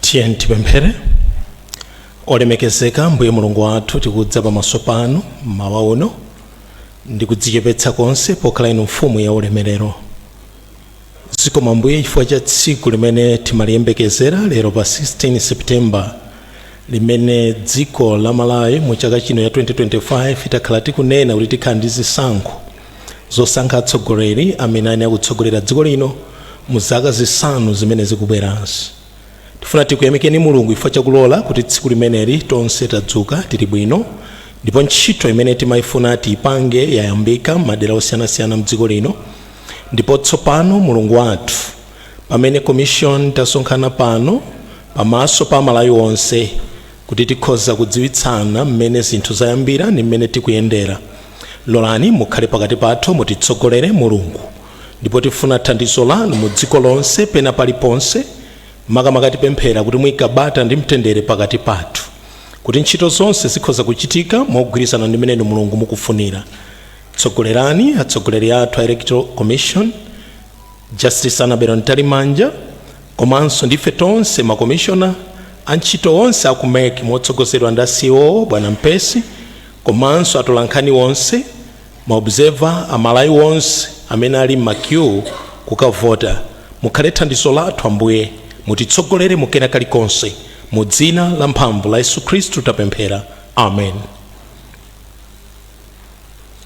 Tiyeni tipemphere. Olemekezeka Mbuye Mulungu wathu, tikudza pamaso panu mmawa uno ndi kudzichepetsa konse pokhala inu mfumu ya ulemerero. Zikomo Mbuye chifukwa cha tsiku limene timaliyembekezera lero pa 16 September limene dziko la Malawi mu chaka chino cha 2025 takhala tikunena kuti tikhala ndi zisankho zosankha atsogoleri amene ayenera kutsogolera dziko lino mu zaka zisanu zimene zikubwerazi tifuna tikuyamikeni mulungu chifukwa chakulola kuti tsiku limeneli tonse tadzuka tili bwino ndipo ntchito imene timayifuna tiyipange yayambika mmadera osiyanasiyana mdziko lino ndipo tsopano mulungu wathu pamene commission tasonkhana pano pamaso pa amalawi onse Kuti tikhoza kudziwitsana mmene zinthu zayambira ndi mmene tikuyendera, lolani mukhale pakati pathu mutitsogolere, Mulungu. Ndipo tifuna thandizo lanu mu dziko lonse pena paliponse, makamaka tipemphera kuti muike bata ndi mtendere pakati pathu, kuti ntchito zonse zikhoza kuchitika mogwirizana ndi mmene inu Mulungu mukufunira. Tsogolerani atsogoleri athu a Electoral Commission, Justice Annabel Mtalimanja, Komanso ndi ife tonse ma komishona, antchito onse aku mec motsogozedwa ndi a CEO bwana Mpesi komanso atolankhani onse, ma observer, a Malawi onse amene ali mma queue kukavota, mukhale thandizo lathu Ambuye, mutitsogolere mu kena kalikonse, mu dzina la mphamvu la Yesu Khristu tapemphera. Amen.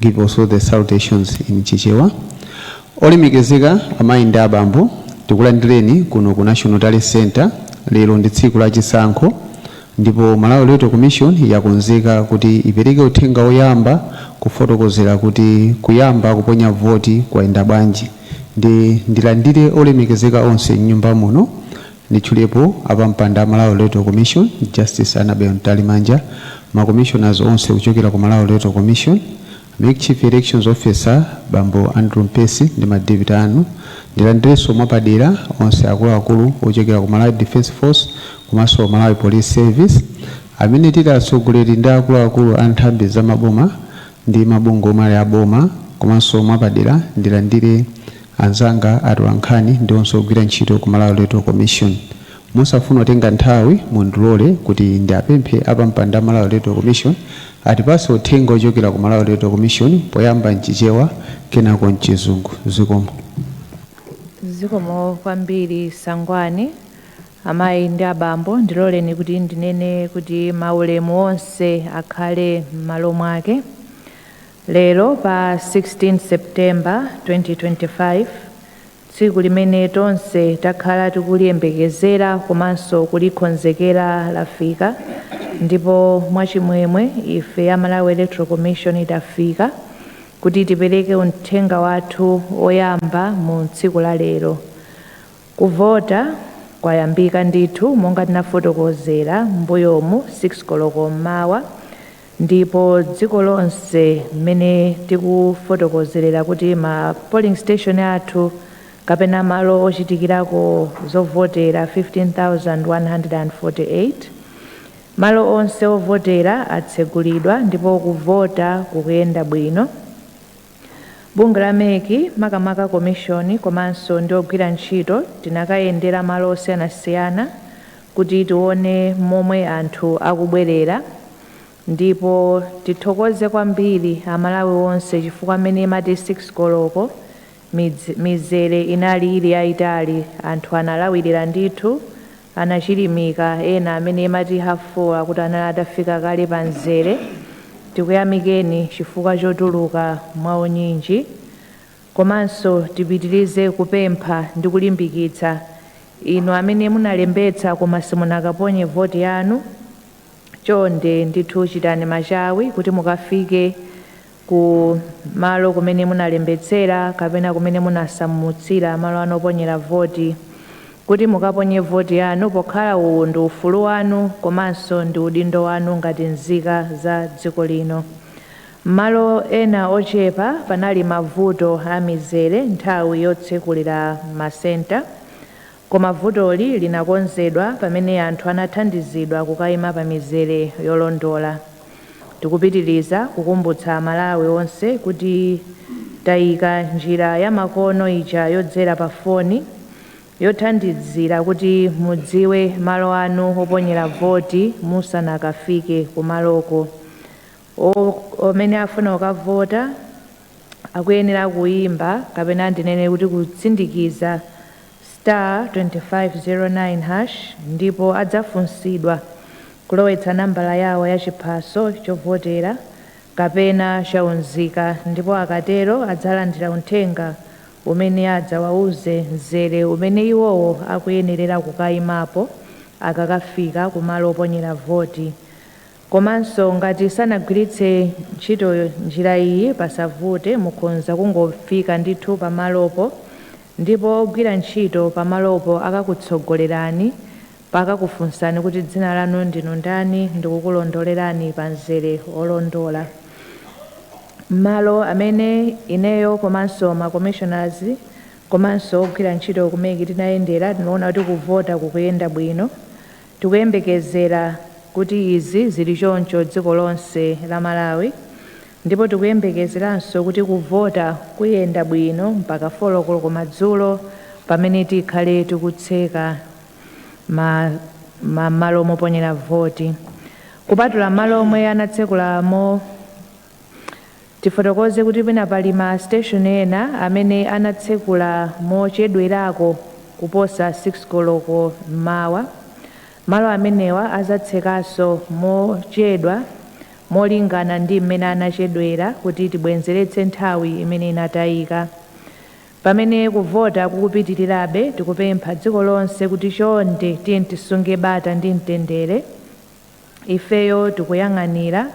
Give also the salutations in Chichewa. Olemekezeka amayi ndi abambo, tikulandireni kuno ku National Tally Centre. Lero ndi tsiku la chisankho ndipo Malawi Electoral Commission yakonzeka kuti ipereke uthenga woyamba kufotokozera kuti kuyamba kuponya voti kwayenda bwanji. Ndiye ndilandire olemekezeka onse m'nyumba muno Nditchulepo apampando a Malawi Electoral Commission, Justice Annabel Mtalimanja, ma Commissioners onse kuchokera ku Malawi Electoral Commission, mec Chief Elections Officer bambo Andrew Mpesi ndi ma deputy anu, ndilandirenso mwapadera onse akuluakulu ochokera ku Malawi Defence Force komanso Malawi Police Service amene tili atsogoleri ndi akuluakulu a nthambi za maboma ndi mabungwe omwe ali a boma komanso mwapadera ndilandire Anzanga atolankhani ndi onse ogwira ntchito ku Malawi Electoral Commission, mosafuna kutenga nthawi mundilole kuti ndiapemphe apampando a Malawi Electoral Commission atipatse uthenga ochokera ku Malawi Electoral Commission poyamba m'Chichewa kenako m'Chizungu. Zikomo. Zikomo kwambiri Sangwani. Amayi ndi abambo, ndiloleni kuti ndinene kuti maulemu onse akhale m'malo mwake. Lero pa 16 September 2025, tsiku limene tonse takhala tikuliyembekezera komanso kulikonzekera lafika ndipo mwachimwemwe ife a Malawi Electoral Commission tafika kuti tipereke uthenga wathu woyamba mu tsiku la lero. Kuvota kwayambika ndithu monga tinafotokozera m'mbuyomu 6 koloko m'mawa. ndipo dziko lonse mmene tikufotokozerera kuti ma polling station athu kapena malo ochitikirako zovotera 15148 malo onse ovotera atsegulidwa ndipo kuvota kukuyenda bwino Bungwe la MEC makamaka komishoni komanso ndi ogwira ntchito tinakayendera malo osiyanasiyana kuti tione momwe anthu akubwerera ndipo tithokoze kwambiri Amalawi onse chifukwa mmene imati 6 koloko mizere inali ili yaitali anthu analawirira ndithu anachilimika ena mmene imati half 4 akuti anali atafika kale pa mzere tikuyamikeni chifukwa chotuluka mwa unyinji komanso tipitilize kupempha ndi kulimbikitsa inu amene munalembetsa koma simunakaponye voti yanu chonde ndithu chitani machawi kuti mukafike ku malo kumene munalembetsera kapena kumene munasamutsira malo anu oponyera voti kuti mukaponye voti yanu pokhala uwu ndi ufulu wanu komanso ndi udindo wanu ngati nzika za dziko lino. M'malo ena ochepa panali mavuto a mizere nthawi yotsekulira masenta. Koma vutoli linakonzedwa pamene anthu anathandizidwa kukaima pa mizere yolondola. Tikupitiliza kukumbutsa a Malawi onse kuti taika njira ya makono ija yodzera pa foni yothandizira kuti mudziwe malo anu oponyera voti musanakafike kumaloko. Amene afuna kukavota. akuyenera kuyimba kapena ndinene kuti kusindikiza star 2509 hash ndipo adzafunsidwa kulowetsa nambala yawo ya chiphaso chovotera kapena cha unzika ndipo akatero adzalandira uthenga umene adzawauze mzere umene iwowo akuyenerera kukayimapo akakafika kumalo oponyera voti. Komanso ngati sanagwiritse ntchito njira iyi pasavute mukhonza kungofika ndithu pamalopo ndipo ogwira ntchito pamalopo akakutsogolerani pakakufunsani kuti dzina lanu ndinu ndani ndikukulondolerani pa mzere olondola. M'malo amene ineyo komanso ma commissioners komanso ogwira ntchito ku mec tinayendera tinaona kuti kuvota kukuyenda bwino Tikuyembekezera kuti izi zili choncho dziko lonse la Malawi ndipo tikuyembekezeranso kuti kuvota kuyenda bwino mpaka 4 koloko madzulo pamene tikhale tikutseka m'malo moponyera voti kupatula m'malo omwe anatsekula mo Tifotokoze kuti pena pali ma station ena amene anatsekula mochedwerako kuposa 6 koloko m'mawa. Malo amenewa azatsekaso mochedwa molingana ndi m'mene anachedwera kuti tibwenzeretse nthawi imene inatayika. Pamene kuvota kukupitirirabe tikupempha dziko lonse kuti chonde tiyeni tisunge bata ndi mtendere. ifeyo tikuyang'anira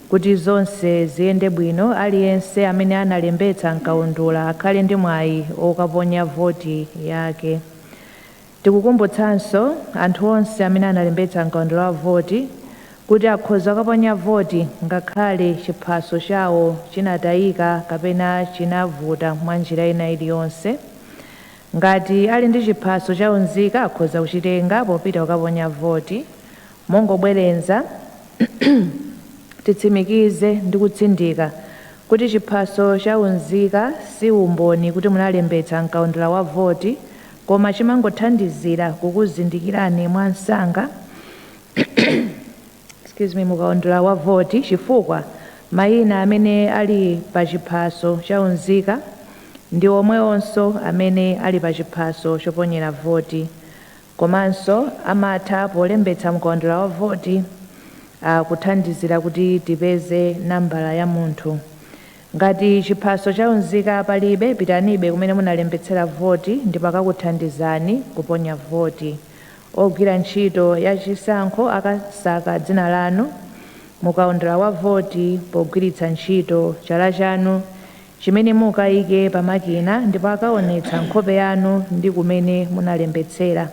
kuti zonse ziyende bwino, aliyense amene analembetsa m'kaundula akhale ndi mwayi wokaponya voti yake. Tikukumbutsanso anthu onse amene analembetsa m'kaundula wa voti kuti akhoza kukaponya voti ngakhale chiphaso chawo chinatayika kapena chinavuta mwa njira ina iliyonse. Ngati ali ndi chiphaso cha unzika akhoza kuchitenga popita kukaponya voti. Mongobwerenza, titsimikize ndi kutsindika kuti chiphaso cha unzika si umboni kuti munalembetsa m'kaundula wa voti koma chimangothandizira kukuzindikirani mwa msanga mu kaundula wa voti chifukwa mayina amene ali pa chiphaso cha unzika ndi omwewonso amene ali pa chiphaso choponyera voti. Komanso amatha polembetsa mkaundula wa voti akuthandizira kuti tipeze nambala ya munthu. Ngati chiphaso cha unzika palibe, pitanibe kumene munalembetsera voti ndipo akakuthandizani kuponya voti. Ogwira ntchito ya chisankho akasaka dzina lanu mu kaundula wa voti pogwiritsa ntchito chala chanu chimene mukaike pa makina ndipo akaonetsa nkhope yanu ndi kumene munalembetsera.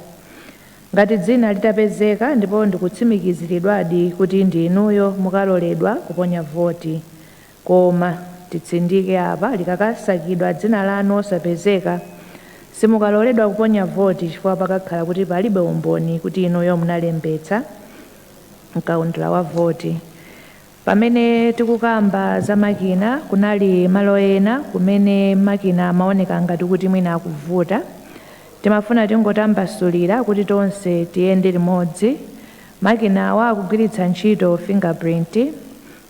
Ngati dzina litapezeka ndipo ndikutsimikiziridwadi kuti ndi inuyo mukaloledwa kuponya voti. Koma, titsindike apa, likakasakidwa dzina lanu osapezeka, simukaloledwa kuponya voti chifukwa pakakhala kuti palibe umboni kuti inuyo munalembetsa m'kaundula wa voti. Pamene tikukamba za makina, kunali malo ena kumene makina amaoneka ngati kuti mwina akuvuta. Timafuna tingotambasulira kuti tonse tiyende limodzi. Makinawa akugwiritsa ntchito fingerprint,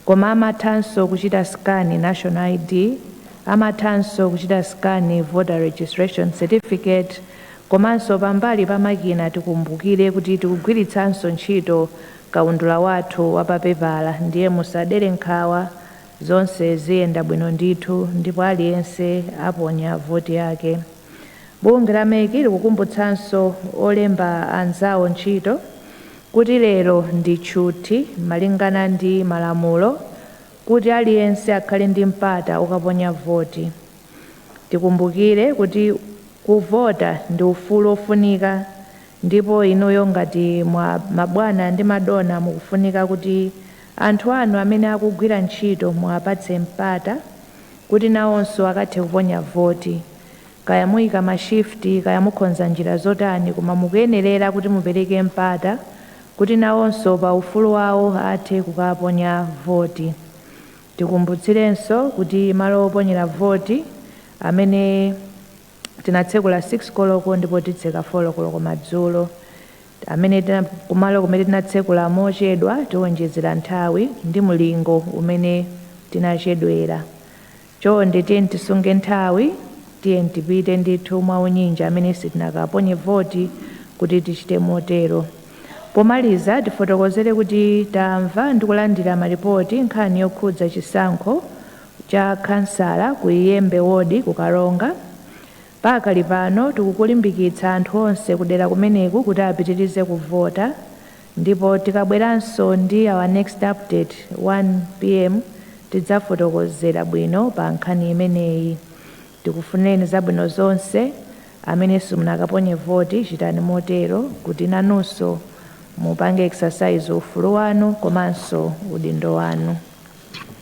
koma amathanso kuchita scan national ID, amathanso kuchita scan voter registration certificate, komanso pambali pa makina tikumbukire kuti tikugwiritsanso ntchito Kaundula wathu wa pa pepala ndiye musadere nkhawa zonse ziyenda bwino ndithu ndipo aliyense aponya voti yake. Bungwe la mec likukumbutsanso olemba anzawo ntchito kuti lero ndi tchuthi malingana ndi malamulo kuti aliyense akhale ndi mpata okaponya voti. Tikumbukire kuti kuvota ndi ufulu ofunika Ndipo inuyo ngati ma, mabwana ndi madona mukufunika kuti anthu anu amene akugwira ntchito muwapatse mpata kuti nawonso akathe kuponya voti. Kaya muyika ma shift, kaya mukonza njira zotani koma mukuyenerera kuti mupereke mpata kuti nawonso pa ufulu wawo athe kukaponya voti. Tikumbutsirenso kuti malo oponyera voti amene. Tinatsekula 6 koloko ndipo titseka 4 koloko madzulo. Amene kumalo kumene tinatsekula mochedwa tiwonjezera nthawi ndi mlingo umene tinachedwera. Chonde tiyeni tisunge nthawi, tiyeni tipite ndithu mwaunyinji amene sitinakaponye voti kuti tichite motero. Pomaliza tifotokozere kuti tamva ndi kulandira malipoti nkhani yokhudza chisankho cha khansala ku Iyembe ward ku Karonga. Pakali pano tikulimbikitsa anthu onse kudera kumeneku kuti apitirize kuvota ndipo tikabweranso ndi our next update 1 pm tidzafotokozera bwino pa nkhani imeneyi. Tikufunireni zabwino zonse. Amene simunakaponye voti chitani motero kuti nanunso mupange exercise ufulu wanu komanso udindo wanu.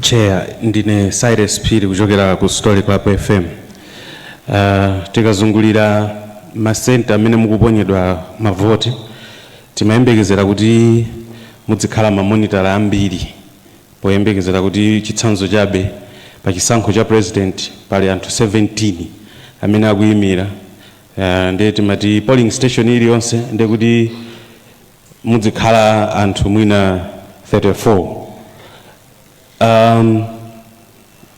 chair ndine cyrus phiri kuchokera ku story club fm uh, tikazungulira masenta amene mukuponyedwa mavoti timayembekezera kuti mudzikhala mamonitala ambiri poyembekezera kuti chitsanzo chabe pa chisankho cha president pali anthu 17 amene akuyimira uh, ndiye timati polling station iliyonse ndiye kuti mudzikhala anthu mwina 34 um,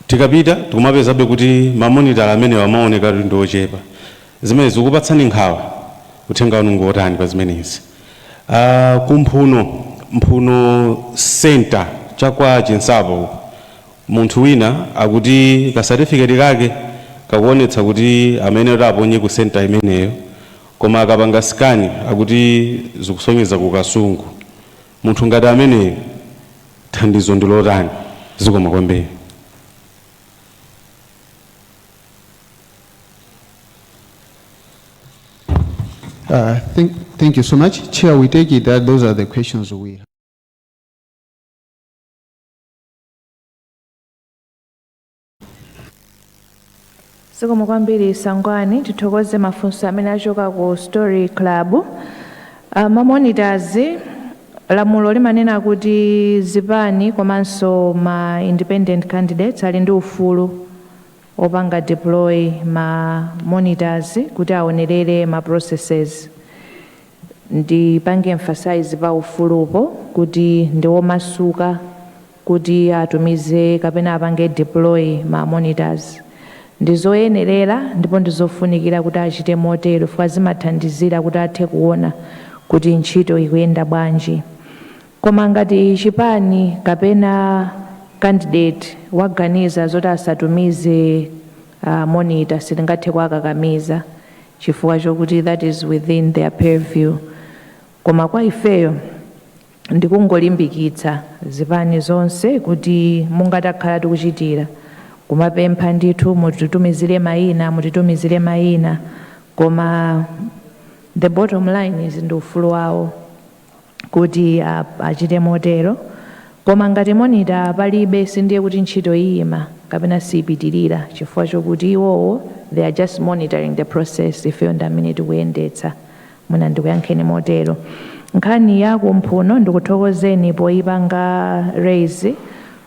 tikapita tikumapezabe kuti mamonitala amenewa akuoneka ndi ochepa zimenezi zikupatsani nkhawa uthenga wanu ngotani pa zimenezi uh, kumphuno mphuno center chakwa chinsapo munthu wina akuti kasatifiketi kake kakuonetsa kuti ameneyo aponye ku center imeneyo Koma akapanga scan akuti zikusonyeza ku Kasungu. Munthu ngati ameneyu thandizo ndi lotani? Zikomo kwambiri. Uh, thank, thank you so much. Chair, we take it that those are the questions we have. zikomo kwambiri sangwani tithokoze mafunso amene achoka ku story club uh, ma monitors lamulo limanena kuti zipani komanso ma independent candidates ali ndi ufulu wopanga deploy ma monitors kuti aonerere ma processes ndipange emphasize pa ufulupo kuti ndiwomasuka kuti atumize kapena apange deploy ma monitors. Ndizoyenerera ndipo ndizofunikira kuti achite motero chifukwa zimathandizira kuti athe kuona kuti ntchito ikuyenda bwanji. Koma ngati chipani kapena candidate waganiza zoti asatumize monitor sitingathe kuwakakamiza chifukwa chokuti that is within their purview. Koma kwa ifeyo. ndikungolimbikitsa zipani zonse kuti monga takhala tikuchitira kumapempha ndithu mutitumizire maina mutitumizire maina koma the bottom line is ndi ufulu wawo kuti a- achite motero koma ngati monita palibe sindiye kuti ntchito iyima kapena siipitirira chifukwa chokuti iwowo they are just monitoring the process ifeyo ndi amene tikuyendetsa Mwina ndikuyankheni motero. Nkhani ya kumphuno ndikuthokozeni poyipanga raise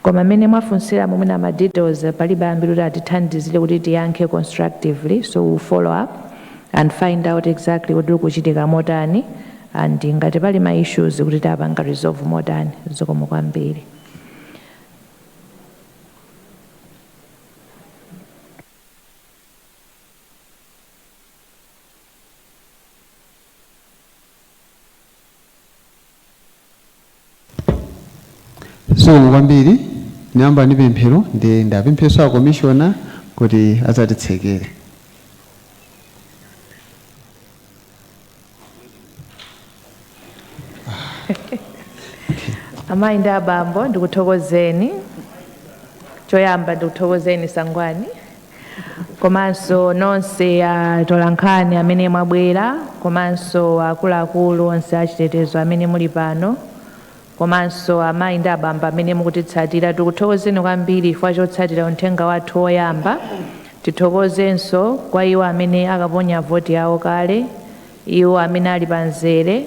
koma mmene mwafunsiramo mwina ma details palibe ambiri kuti atithandizire kuti tiyankhe constructively so we will follow up and find out exactly kuti kukuchitika motani and ngati pali ma issues kuti tapanga resolve motani. Zikomo kwambiri. zikomo kwambiri tinayamba ndi pemphero ndiye ndipemphenso akomishona kuti adzatitsekere amayi ndi abambo ndikuthokozeni choyamba ndikuthokozeni sangwani komanso nonse atolankhani amene mwabwera komanso akuluakulu onse achitetezo amene muli pano komanso amayi ndi abambo amene mukutitsatira tikuthokozeni kwambiri chifukwa chotsatira uthenga wathu woyamba tithokozenso kwa iwo amene akaponya voti yawo kale iwo amene ali pa mzere,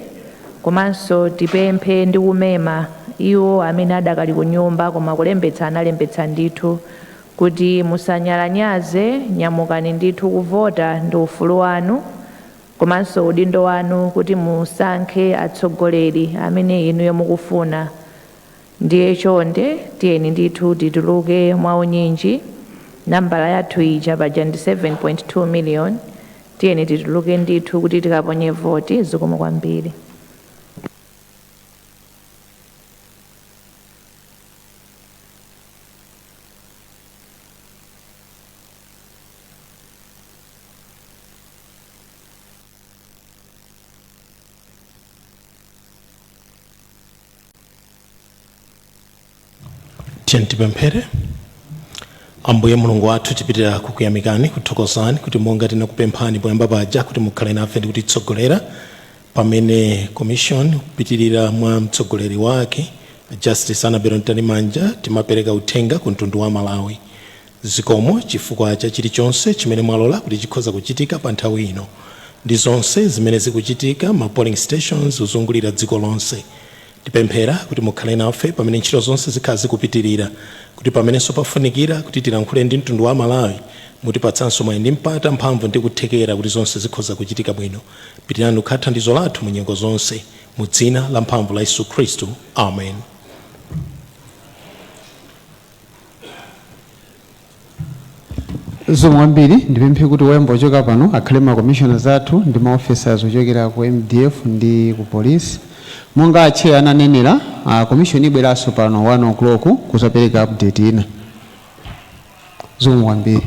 komanso tipemphe ndi kumema iwo amene adakali ku nyumba koma kulembetsa analembetsa ndithu, kuti musanyalanyaze Nyamukani ndithu kuvota ndi ufulu wanu komanso udindo wanu kuti musankhe atsogoleri amene inuyo mukufuna. Ndiye chonde tiyeni ndithu tituluke mwaunyinji. Nambala yathu ija paja ndi 7.2 miliyoni. Tiyeni tituluke ndithu kuti tikaponye voti. Zikomo kwambiri. tiyeni tipemphere ambuye mulungu wathu tipitira kukuyamikani kuthokozani kuti monga tinakupemphani poyamba paja kuti mukhale nafe ndi kutitsogolera pamene commission kupitirira mwa mtsogoleri wake justice annabel mtalimanja timapereka uthenga ku mtundu wa malawi zikomo chifukwa cha chilichonse chimene mwalola kuti chikhoza kuchitika pa nthawi ino ndi zonse zimene zikuchitika m'ma polling stations kuzungulira dziko lonse Tipemphera kuti mukhale nafe pamene ntchito zonse zikhala zikupitilira, kuti pamenenso pafunikira kuti tilankhule ndi mtundu wa Malawi, mutipatsanso mwayi ndi mpata, mphamvu ndi kuthekera kuti zonse zikhoza kuchitika bwino. Pitirani kukhala thandizo lathu mu nyengo zonse. Mu dzina la mphamvu la Yesu Khristu. Amen. zikomo kwambiri ndipemphe kuti woyamba kuchoka pano akhale ma commissioners athu ndi ma officers ochokera ku mdf ndi ku police monga atcheyo ananenera a commission ibweranso pano 1 o'clock kuzapereka update ina zikomo kwambiri